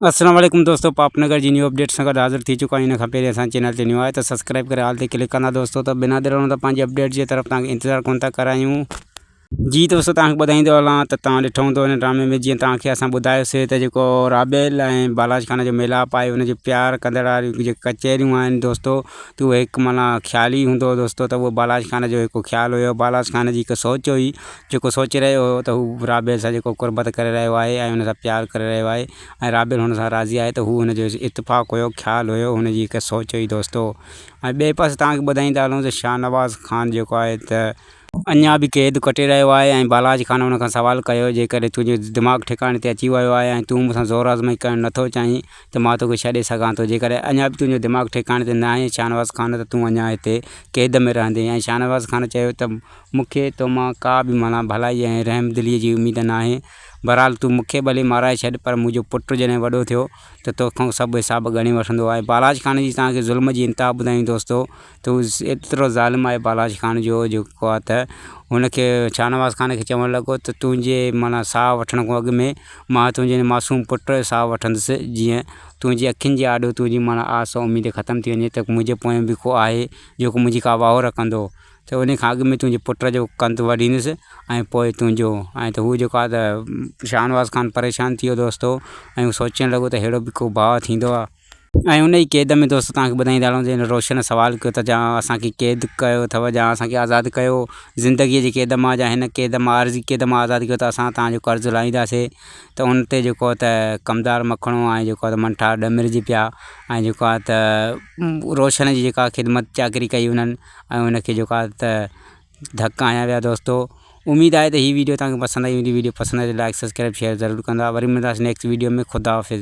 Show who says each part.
Speaker 1: اسلام عليڪم دوستو پاپ نگر جي نيو اپڊيٽ سان گڏ حاضر ٿي چڪا آهيون ان کان پهرين اسان چينل تي نيو آهي ته سبسڪرائيب ڪري آل تي ڪلڪ ڪندا دوستو ته بنا دير هلڻ ته پنهنجي اپڊيٽ جي طرف توهان کي انتظار ڪونه ٿا ڪرايون جي دوستو توهان کي ٻڌائيندو هلان ته توهان ڏٺو هوندو ان ڊرامي ۾ جيئن توهان کي اسان ٻڌايوسي ته جيڪو رابيل ۽ بالاج خان جو ميلاپ آهي ان جي پيار ڪندڙ واريون جيڪي ڪچهريون آهن دوستو ته اهو هڪ معنيٰ خيال ئي هوندو دوستو ته اهو بالاج خان جو هڪ خيال هيو بالاج خان جي هڪ سوچ هئي جيڪو سوچي رهيو هو ته هو رابيل سان جيڪو قربت ڪري رهيو آهي ۽ هن سان پيار ڪري رهيو آهي ۽ رابيل هن سان راضي آهي ته هو هن جو اتفاق هيو، خيال هيو، هن جي هڪ سوچ هئي دوستو. ۽ ٻئي پاسي توهان کي ٻڌائيندا هلون ته شاهنواز خان جيڪو آهي ته. اڃا به قيد ڪٽي رهيو آهي ۽ بالاچ خان هن کان سوال ڪيو جيڪڏهن تنهنجو دماغ ٺڪاڻي تي اچي ويو آهي ۽ تون مون سان زور آزمائي ڪرڻ نه ٿو چاهين ته مان توکي ڇڏي سگهان ٿو جيڪڏهن اڃا به تنهنجو دماغ ٺڪاڻي تي ناهي شاهنواز خان ته تون اڃا هتي قيد ۾ رهندين ۽ شاهنواز خان چيو ته مون کي تو مان ڪا به معنيٰ ڀلائيء ۽ رحم دليء جي اميد ناهي. بهرحال تون مون کي ڀلي مارائي ڇڏ، پر منهنجو پٽ جڏهن وڏو ٿيو ته تو کان سڀ حساب ڳڻي وٺندو. آء بالاچ خان جي توهان کي ظلم جي انتها ٻڌايون دوستو ته هو ايترو ظالم آهي بالاچ خان جو جو ڪوهه ته هن کي شاهنواز خان کي چوڻ لڳو ته تنهنجي معنيٰ ساهه وٺڻ کان اڳ ۾ مان تنهنجي معصوم پٽ جو ساهه وٺندس جيئن تنهنجي اکين جي آڏو تنهنجي معنيٰ آس ۽ اميد ختم ٿي وڃي ته منهنجي پويان به ڪو آهي جيڪو منهنجي ڪا واهه رکندو. ته انهيء کان اڳ ۾ تنهنجي پٽ جو ڪنڌ وڍيندس ۽ پوء تنهنجو ۽ ته هو جيڪو آهي ته شاهنواز خان پريشان ٿي ويو دوستو ۽ هو سوچڻ لڳو ته ههڙو به ڪو ڀاء ٿيندو آهي؟ ۽ ان ئي قيد ۾ دوستو توهان کي ٻڌائيندا هلون ته هن روشن سوال ڪيو ته جا اسان کي قيد ڪيو اٿئو جا اسان کي آزاد ڪيو زندگيء جي قيد مان جا هن قيد مان عارضي قيد مان آزاد ڪيو ته اسان توهان جو قرض لاهينداسين ته ان تي جيڪو آهي ته ڪمدار مکڻو ۽ جيڪو آهي ته منٺار ڏمرجي پيا ۽ جيڪو آهي ته روشن جي جيڪا خدمت چاڪري ڪئي انهن ۽ ان کي جيڪو آهي ته ڌڪ هنيا ويا دوستو اميد آهي ته هي ويڊيو توهان کي پسند آئي هوندي ويڊيو پسند آئي ته لائڪ سبسڪرائب شيئر ضرور ڪندا وري ملنداسين نيڪسٽ ويڊيو ۾ خداحافظ